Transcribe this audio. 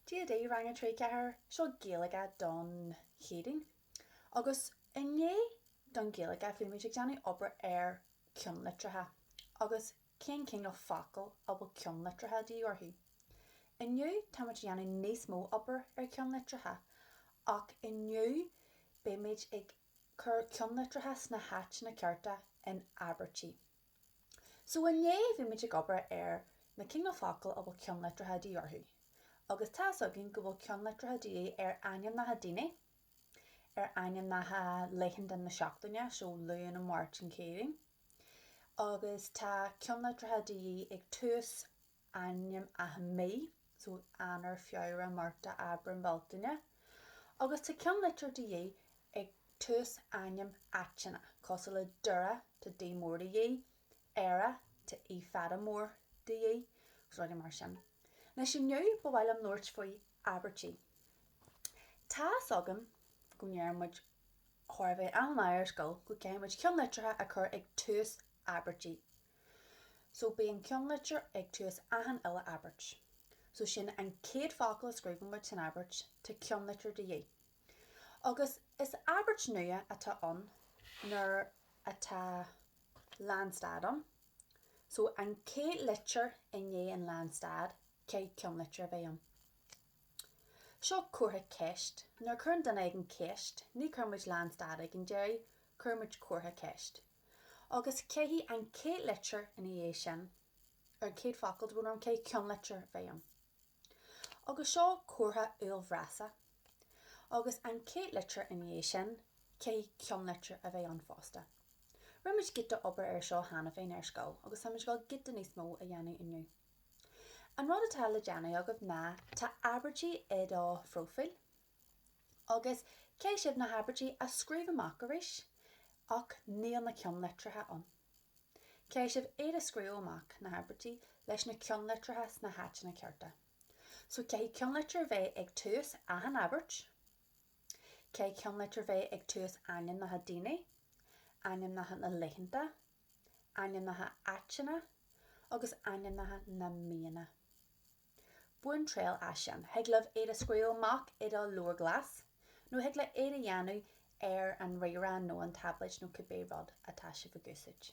Cad é Rang 3 4, Seo Gaeilge don Chéadaoin agus inné don Ghaeilge bhí muid ag déanamh obair ar cheannlitreacha agus cén cineál focal a bhfuil ceannlitreacha de dhíth orthu. Inniu táimid ag déanamh níos mó obair ar cheannlitreacha ach inniu beimid ag cur ceannlitreacha sna háiteanna cearta in abairtí. So inné bhí muid ag obair ar na cineál focal a bhfuil ceannlitreacha de dhíth orthu. Agus tá's againn go bhfuil ceannlitreacha de dhíth ar ainmneacha daoine, ar ainmneacha laethanta na seachtaine, so an Luan an Mháirt an Chéadaoin. Agus tá ceannlitreacha de dhíth ag tús ainmneacha mí, so Eanáir, Feabhra, Márta, Aibreán, Bealtaine, agus tá ceannlitir de dhíth ag tús ainm áiteanna cosúil le Doire, tá D mór de dhíth, Éire, tá E fada mór de dhíth, agus rudaí mar sin. Anois inniu ba mhaith liom labhairt faoi abairtí. Tá fhios agam go ndeireann muid chóir a bheith achan lá ar scoil go gcaithfidh muid ceannlitreacha a chur ag tús abairtí, So bíonn ceannlitir ag tús achan uile abairt. So sin an chéad focal a scríobhann muid san abairt, tá ceannlitir de dhíth. Agus is abairt nua atá ann nuair atá lánstad ann. So an chéad litir i ndiaidh an lánstad, caithfidh ceannlitir a bheith ann. Seo comhartha ceist. Nuair a chuireann duine éigin ceist, ní chuireann muid lánstad ag an deireadh, cuireann muid comhartha ceist. agus caithfidh an chéad litir ina dhiaidh sin ar an gcéad focal bhuel caithfidh ceannlitir a bheith ann, agus seo comhartha uaillbhreasa, agus an chéad litir ina dhiaidh sin, caithfidh ceannlitir a bheith ann fosta. Rinne muid giota obair air seo cheana féin ar scoil agus táimid ag dul giota níos mó a dhéanamh inniu. An rud atá le déanamh agaibh ná tá abairtí i do phróifíl, Agus caithfidh sibh na habairtí a scríobh amach arís ach níl na ceannlitreacha ann. Caithfidh sibh iad a scríobh amach, na habairtí, leis na ceannlitreacha sna háiteanna cearta. So caithfidh ceannlitir bheith ag tús achan abairt. Caithfidh ceannlitir bheith ag tús ainmneacha daoine, ainmneacha na laethanta, ainmneacha áiteanna agus ainmneacha na míonna. Bain triail as sin, thig libh iad a scríobh amach i do leabhar glas, nó thig libh iad a dhéanamh ar an ríomhaire nó an táibléad nó cibé rud atá sibh ag úsáid.